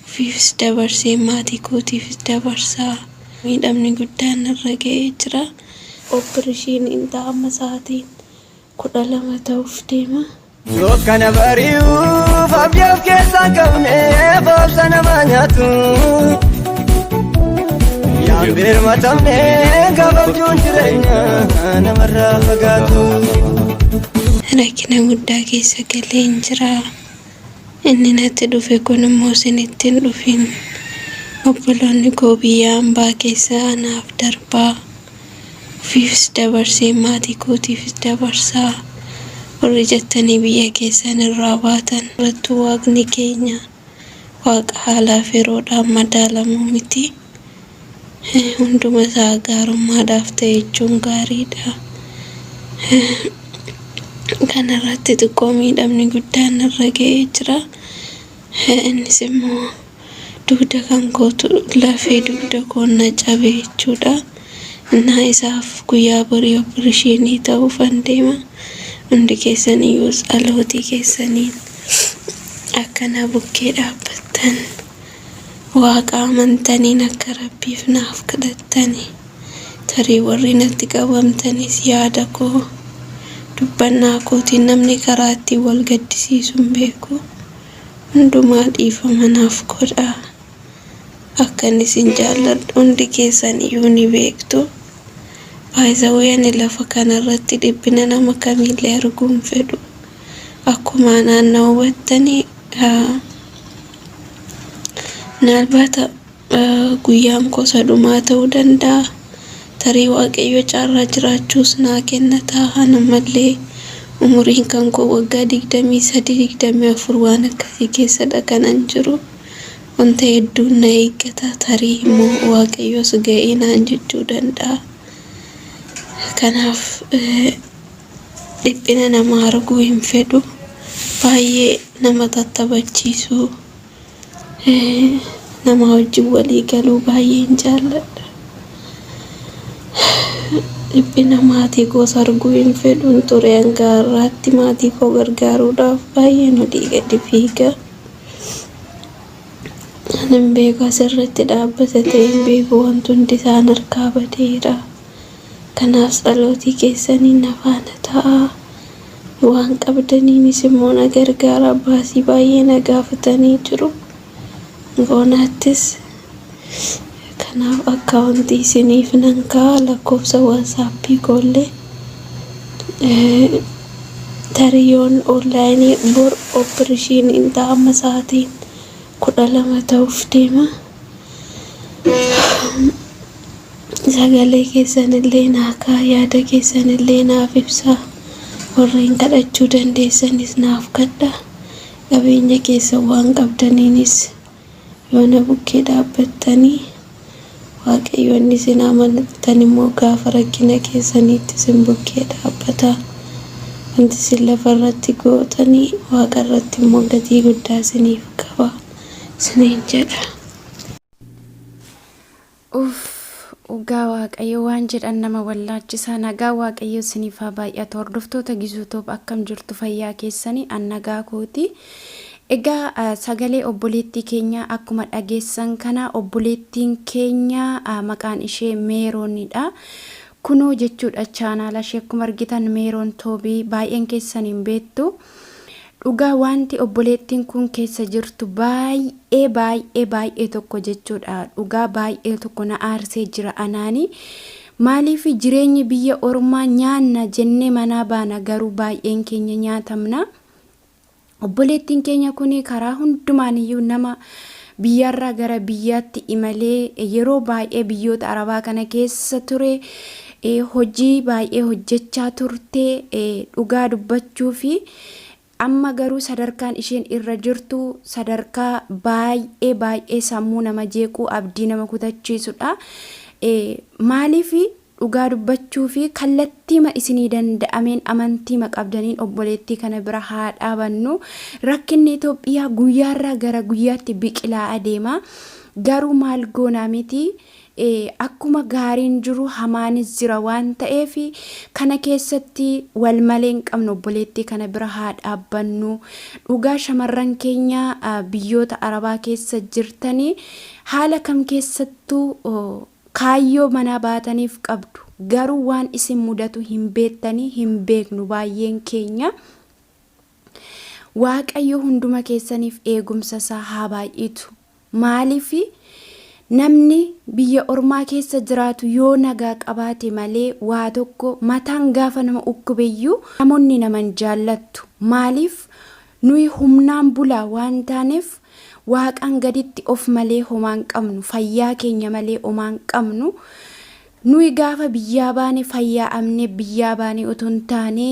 Ofiifis dabarsee maatii kootiifis dabarsaa. Miidhamni guddaan narra ga'ee jira. Oppirishiiniin ta'a amma sa'aatiin 12 ta'uuf deema. Dukkana bari'uuf abdii of keessaa hin qabne boolta nama nyaatu. Yaan birmatamne gabaabjuun jireenya namarraa fagaatu. Rakkina guddaa keessa galeen jira. Inni natti dhufe kun immoo isinitti hin dhufin. Obboloonni koo biyya ambaa keessa anaaf darbaa, ofiifis dabarsee maatii kootiifis dabarsaa, warri jettanii biyya keessan irraa baatan. Dhugattuu Waaqni keenya Waaqa haalaaf yeroodhaan madaalamuu miti. Hunduma isaa gaarummaadhaaf ta'e jechuun gaariidha. Kanarratti xiqqoo miidhamni guddaan narra ga'ee jira. Innis immoo dugda kan kootu lafee dugda koo na cabe jechuudha. Innaa isaaf guyyaa borii opereeshinii ta'uufan deema. Hundi keessaniyyuus dhalootii keessaniin akka na bukkee dhaabbattan Waaqa amantaniin akka Rabbiif naaf kadhattani. Tarii warri natti qabamtanis yaada koo, dubbannaa kootiin namni karaa ittiin wal gaddisiisu hin beeku. Hundumaa dhiifama naaf godhaa. Akkan isin jaalladhu hundi keessan iyyuu ni beektu. By the way ani lafa kanarratti dhiphina nama kamiillee arguu hin fedhu. akkuma naannoo hubattanii naalbaata guyyaan kosa dhumaa ta'uu danda'a tarii waaqayyo caarraa jiraachuus naa kenna ta'a namallee umuriin kan koo waggaa digdamii sadii digdamii afur waan akkasii keessadha kanan jiru wanta hedduun na eeggata tarii immoo waaqayyoos ga'ee naan jechuu danda'a kanaaf dhiphina nama arguu hin fedhu baay'ee nama tattabachiisuu nama wajjin walii galuu baay'een jaalladha dhiphina maatii koos arguu hin fedhun ture hanga har'aatti maatii koo gargaaruudhaaf baay'een olii gadi fiiga kanan beeku asirratti dhaabbata ta'een beeku wanti hundi isaan harkaa badeera. Kanaaf tsalootii keessaniin na faana ta'aa, waan qabdaniinis immoo na gargaaraa, baasii baay'ee na gaafatanii jiru. Boonaattis Kanaaf account isiniif nan kaa'a, lakkoofsa whatsapp koo illee tarii yoon online bor operation ta'a amma sa'aatiin 12 ta'uuf deema. sagalee keessanillee naakaa yaada keessanillee naaf ibsaa warreen kadhachuu dandeessanis naaf kadha qabeenya keessa waan qabdaniinis yoona bukkee dhaabbattanii waaqayyoonni isin amanattan immoo gaafa rakkina keessaniitti isin bukkee dhaabbata wanti isin lafa irratti gootanii waaqa irratti immoo gatii guddaa isiniif qaba isiniin jedha. Uff dhugaa waaqayyo waan jedhan nama wallaachisa nagaa waaqayyo isiniif haa baay'atu hordoftoota gizuu toob akkam jirtu fayyaa keessanii an nagaa kooti egaa ah, sagalee obboleettii keenyaa akkuma dhageessan kana obboleettiin keenya ah, maqaan ishee meeroonidha kunoo jechuudha chaanaala ishee akkuma argitan meeroon toobii baay'een keessaniin beektu Dhugaa waanti obboleettiin kuun keessa jirtu baay'ee baay'ee baay'ee tokko jechuudha dhugaa baay'ee tokko na aarsee jira anaani maaliifi jireenyi biyya ormaa nyaanna jennee manaa baana garuu baay'een keenya nyaatamna obboleettiin keenya kuni karaa hundumaaniyyuu nama Biyyaarraa gara biyyaatti imalee yeroo baay'ee biyyoota Arabaa kana keessa ture. Hojii baay'ee hojjechaa turte dhugaa dubbachuufi. Amma garuu sadarkaan isheen irra jirtu sadarkaa baay'ee baay'ee sammuu nama jeequ, abdii nama kutachiisudha. Maaliif Dhugaa dubbachuufi kallattiima isinii danda'ameen amantiima qabdaniin obboleettii kana bira haa dhaabannu. Rakkinni Itoophiyaa guyyaarraa gara guyyaatti biqilaa adeema. Garuu maal goonaa miti akkuma gaariin jiru hamaanis jira waan ta'eef kana keessatti wal malee hin qabnu obboleettii kana bira haa dhaabbannu. Dhugaa shamarran keenya biyyoota Arabaa keessa jirtanii haala kam keessattuu Kaayyoo manaa baataniif qabdu. Garuu waan isin mudatu hin beektanii hin beeknu baay'een keenya. Waaqayyo hunduma keessaniif eegumsa isaa haa baay'itu. Maaliif namni biyya ormaa keessa jiraatu yoo nagaa qabaate malee waa tokko mataan gaafa nama ukkubeyyuu namoonni naman jaallattu. Maaliif Nuyi humnaan bulaa waan taaneef Waaqaan gaditti of malee homaa hin qabnu, fayyaa keenya malee homaa hin qabnu. Nuyi gaafa biyyaa baane fayyaa'amnee biyyaa baane otoo hin taane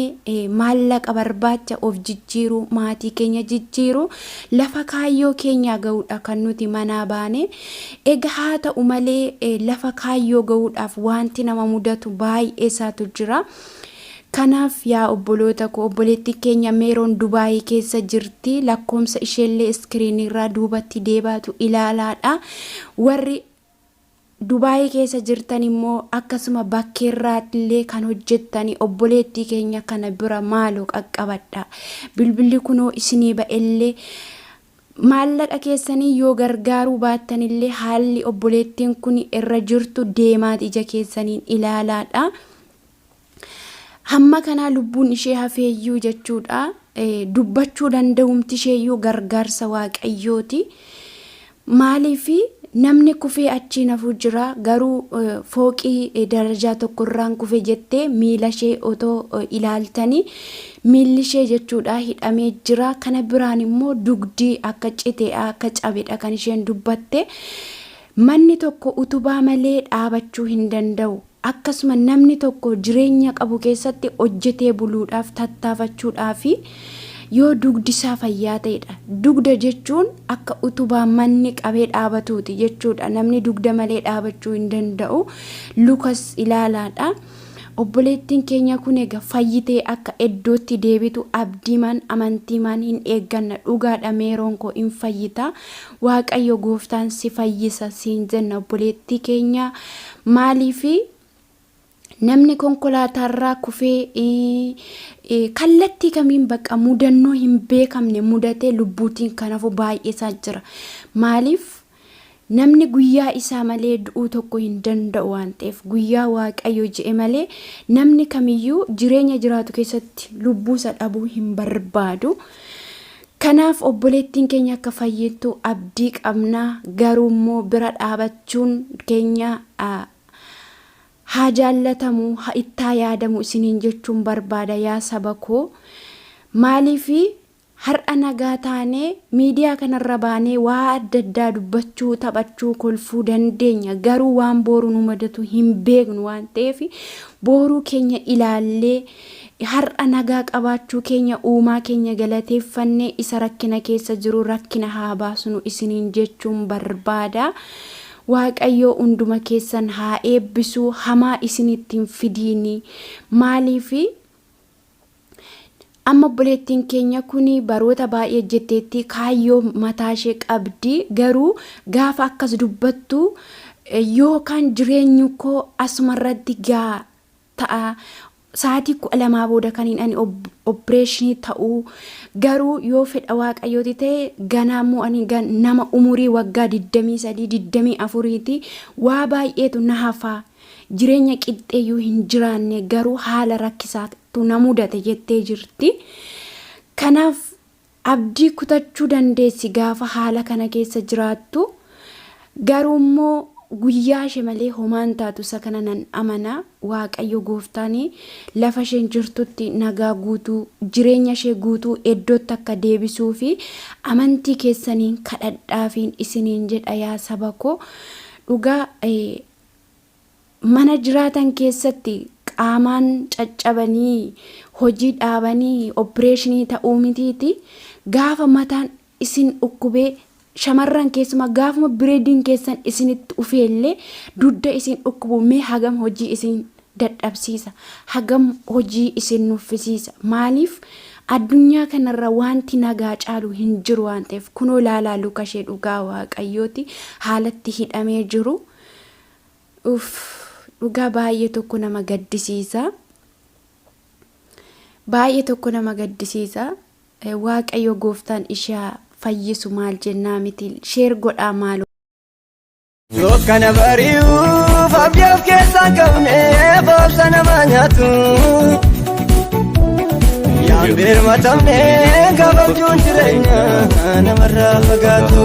maallaqa barbaacha of jijjiiruu, maatii keenya jijjiiruu, lafa kaayyoo keenyaa ga'uudha kan nuti manaa baane. Egaa haa ta'u malee lafa kaayyoo ga'uudhaaf waanti nama mudatu baay'ee isaatu jira. Kanaaf yaa obboloota ko obboleettiin keenya Meeroon Dubaayii keessa jirti lakkoomsa isheellee iskiriin irraa duubatti deebaatu ilaalaadha warri Dubaayii keessa jirtan immoo akkasuma bakkeerraattillee kan hojjettani obboleettii keenya kana bira maaloo qaqqabadhaa bilbilli kunoo isinii ba'ellee maallaqa keessaniin yoo gargaaruu baattanillee haalli obboleettiin kun irra jirtu deemaati ija keessaniin ilaalaadha. hamma kanaa lubbuun ishee hafeeyyuu jechuudha dubbachuu danda'umti isheeyyuu gargaarsa waaqayyooti maaliif namni kufee achiin hafuu jira garuu fooqii darajaa tokkorraan kufe jettee miila ishee otoo ilaaltanii miilli ishee jechuudha hidhamee jira kana biraan immoo dugdii akka cite akka cabedha kan isheen dubbatte manni tokko utubaa malee dhaabachuu hin danda'u Akkasuma namni tokko jireenya qabu keessatti hojjetee buluudhaaf tattaafachuudhaafi yoo dugdi isaa fayyaa ta'edha. Dugda jechuun akka utubaa manni qabee dhaabatuuti jechuudha. Namni dugda malee dhaabachuu hin danda'u. Lukas ilaalaadha. Obboleettiin keenya kun egaa fayyitee akka iddootti deebitu abdiimaan amantiimaan hin eegganna. Dhugaadha meeroon koo hin fayyita. Waaqayyo gooftaan si fayyisa siin jenna obboleettii keenya. Maaliif namni konkolaataarraa kufee kallattii kamiin bakka mudannoo hin beekamne mudatee lubbuutiin kan hafu baay'eesaa jira. Maaliif namni guyyaa isaa malee du'uu tokko hin danda'u waan ta'eef guyyaa waaqayyo je'e malee namni kamiyyuu jireenya jiraatu keessatti lubbuusa dhabuu hin barbaadu. Kanaaf obboleettiin keenya akka fayyittu abdii qabna, garuu immoo bira dhaabachuun keenya haa jaallatamu, ha itti haa yaadamu isiniin jechuun barbaada yaa saba koo. Maaliif har'a nagaa taanee miidiyaa kana irra baanee waa adda addaa dubbachuu, taphachuu, kolfuu dandeenya, garuu waan booru nu mudatu hin beeknu waan ta'eef booruu keenya ilaallee Har'a nagaa qabaachuu keenya Uumaa keenya galateeffannee isa rakkina keessa jiru rakkina haa baasnu isiniin jechuun barbaada. Waaqayyoo hunduma keessan haa eebbisu hamaa isinitti hin fidiini. Maaliif amma obboleettiin keenya kun baroota baay'ee hojjetteetti kaayyoo mataa ishee qabdi garuu gaafa akkas dubbattu yookaan jireenyu koo asuma irratti gaa ta'a. Sa'aatii 12 booda kan hin ani oppireeshinii ta'u garuu yoo fedha waaqayyooti ta'e ganaa immoo ani nama umurii waggaa 23 24ti waa baay'eetu na hafaa jireenya qixxeeyyuu hin jiraanne garuu haala rakkisaatu na mudate jettee jirti. Kanaaf Abdii kutachuu dandeessi gaafa haala kana keessa jiraattu, garuummoo guyyaashe malee homaa hin taatu isa kana nan amana. Waaqayyo gooftaan lafa isheen jirtutti nagaa guutuu, jireenya ishee guutuu eddootti akka deebisuufi amantii keessaniin kadhadhaafiin isiniin jedha yaa saba koo. Dhugaa mana jiraatan keessatti qaamaan caccabanii hojii dhaabanii oppireeshinii ta'uu mitiiti gaafa mataan isin dhukkubee shamarran keessumaa gaafuma bireediin keessan isinitti ufeellee dugda isin dhukkubu mee hagam hojii isin dadhabsiisa hagam hojii isin nuffisiisa maaliif addunyaa kanarra wanti nagaa caalu hin jiru waan ta'eef kunoo laalaa lukashee dhugaa waaqayyooti haalatti hidhamee jiru Uuff dhugaa baay'ee tokko nama gaddisiisa baay'ee tokko nama gaddisiisa Eh, waaqayyo gooftaan ishaa fayyisu maal jennaa miti sheer godhaa maaloo Yoo kana bari'uuf abdii of keessaa qabne boolta nama nyaatu. Yaan birmatamne gabaabjuun jireenya namarraa fagaatu.